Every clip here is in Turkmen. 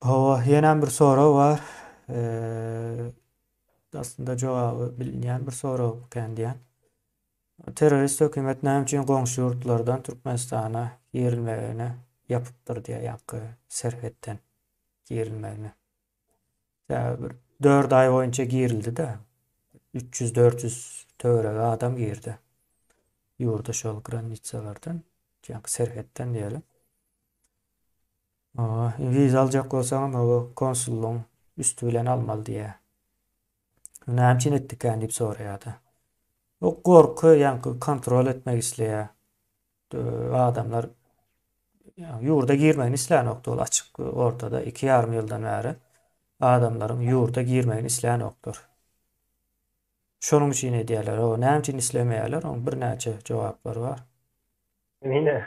Hawa, ýenem bir sorag bar. Aslynda jogaby bilinýän bir sorag ekän diýýän. Terrorist hökümet näme üçin goňşy ýurtlardan Türkmenistana girilmegini ýapypdyr diýýär, ýaňky serhetden girilmegini? Ýa bir dört aý boýunça girildi-de, üç ýüz, dört ýüz töweregi adam girdi ýurda şol granitsalardan, janky serhetden diýeli. Oba, wiza aljak bolsaňam, oba konsullygyň üsti bilen almaly diýýär. Näme üçin etdikän diýip soraýar-da. O gorky, ýaňky kontrol etmek isleýär. Adamlar ýurda girmegini islänokdy ol açyk ortada iki ýarym ýyldan bäri adamlaryň ýurda girmegini islänoklar. Şonuň üçin edýärler. O näme üçin islemeýärler? Oň birnäçe jogaplary bar. Emine.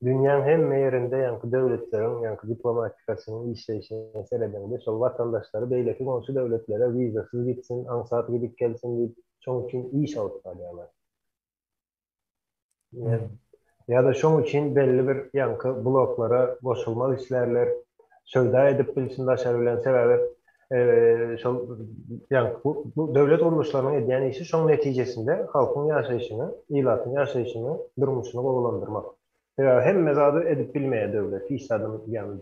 Dünýäň hemme ýerinde ýaňky döwletleriň ýaňky diplomatikasynyň işleýşine seredeňde şol watandaşlary beýleki goňşy döwletlere wizasyz gitsin, aňsat gidip gelsin diýip şoň üçin iş alyp barýarlar. Ýa-da şoň üçin belli bir ýaňky bloklara goşulmak islärler, söwda edip bilsin daşary bilen, sebäbi şol ýaňky bu döwlet gurluşlarynyň edýän işi şoň netijesinde halkyň ýaşaýşyny, ilatyň ýaşaýşyny, durmuşyny gowulandyrmak. Sebäbi hemme zady edip bilmeýär döwlet, hiç zadam ýagny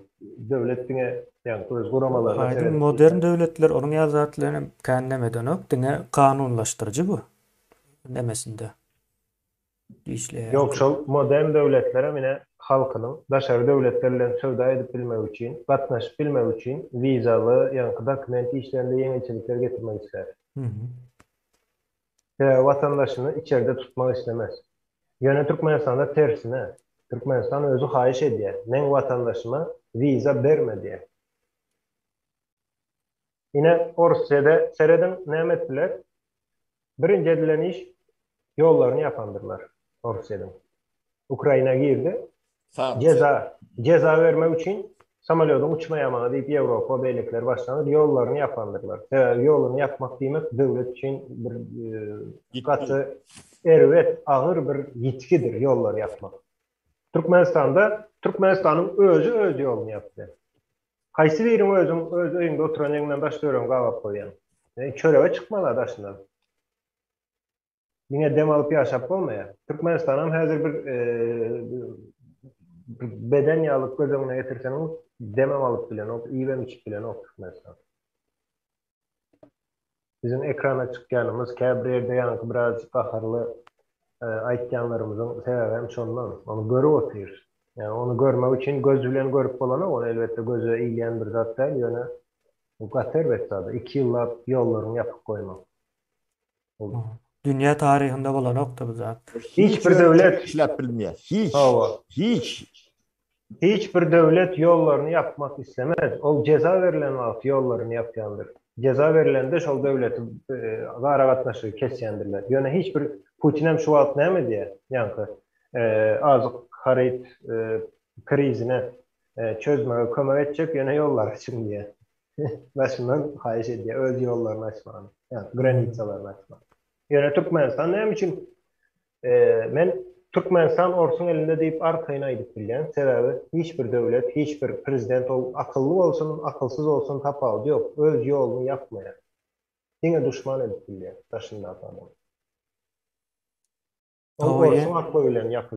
döwlet diňe ýagny öz guramalaryna seredip. Aýdyň modern döwletler onuň ýaly zatlaryny hem kän näme edenok diňe kanunlaşdyryjy bu nemesinde işleýär. Ýok şol modern döwletlerem ine halkynyň daşary döwletler bilen söwda edip bilmegi üçin gatnaşyp bilmegi üçin wizaly ýaňky dokument işlerinde ýeňilçilikler getirmek islär. sebäbi watandaşyny içerde tutmak islemez. Ýöne Türkmenistanda tersine, Türkmenistan özi haýyş edýär, meň watandaşyma wiza berme diýýär. Ine, Orsyýada serediň näme etdiler? Birinji edilen iş, ýollaryny ýapandyrlar Orsyýadyň. Ukraina girdi, Jeza, jeza bermek üçin samolýodyň uçmaýamagy diýip Ýewropa beýlekiler başlanyp ýollaryny ýapandyrlar. Sebäbi ýoluny ýapmak diýmek döwlet üçin bir gaty erbet, agyr bir ýitgidir ýollary ýapmak. Türkmenistanda Türkmenistanyň özi öz ýoluny ýapdy. Haýsy biriň özüň öz öýüňde oturan ýeriňden daş döregiňi gabap goýýaň? Çörege çykma-la daşyna. Diňe dem alyp ýaşap bolmaýar. Türkmenistanam häzir bir beden ýaly göz öňüne getirseňiz, demem alyp bilenok, iýibem içip bilenok Türkmenistan. Biziň ekrana çykýanymyz käbir ýerde ýaňky biraz gaharly aýtýanlarymyzyň sebäbi hem şondan. Ony görüp otyrys. Ýa ony görmek üçin göz bilen görüp bolanok, ony elbetde göze ilýän bir zat däl, ýöne bu gaty erbet zada, iki ýyllap ýollaryňy ýapyp goýmak. Ol. Dünýä taryhynda bolanokdy bu zat. Hiç bir döwlet işläp bilmeýär. Hiç. Hawa. Hiç. Hiç bir döwlet ýollaryny ýapmak islemez. Ol jeza berlen wagty ýollaryny ýapýandyr. Jeza berlende şol döwleti aragatnaşygy kesýändirler. Ýöne hiç bir Putinem şu wagt näme edýär? Ýaňky azyk haryt krizine çözmege kömek etjek ýöne ýollary çyn diýýär. Başyndan haýyş edýär öz ýollaryny açmany, ýagny granisalaryny açmany. Ýöne Türkmenistan näme üçin men Türkmenistan orsuň elinde diýip arkaýyn aýdyp bilýän, sebäbi hiç bir döwlet, hiç bir prezident ol akylly bolsun, akylsyz bolsun tapawudy ýok, öz ýoluny ýapmaýar. Diňe duşman edip bilýär daşyndaky adamy. Ol orsuň akyly bilen ýapyşýar.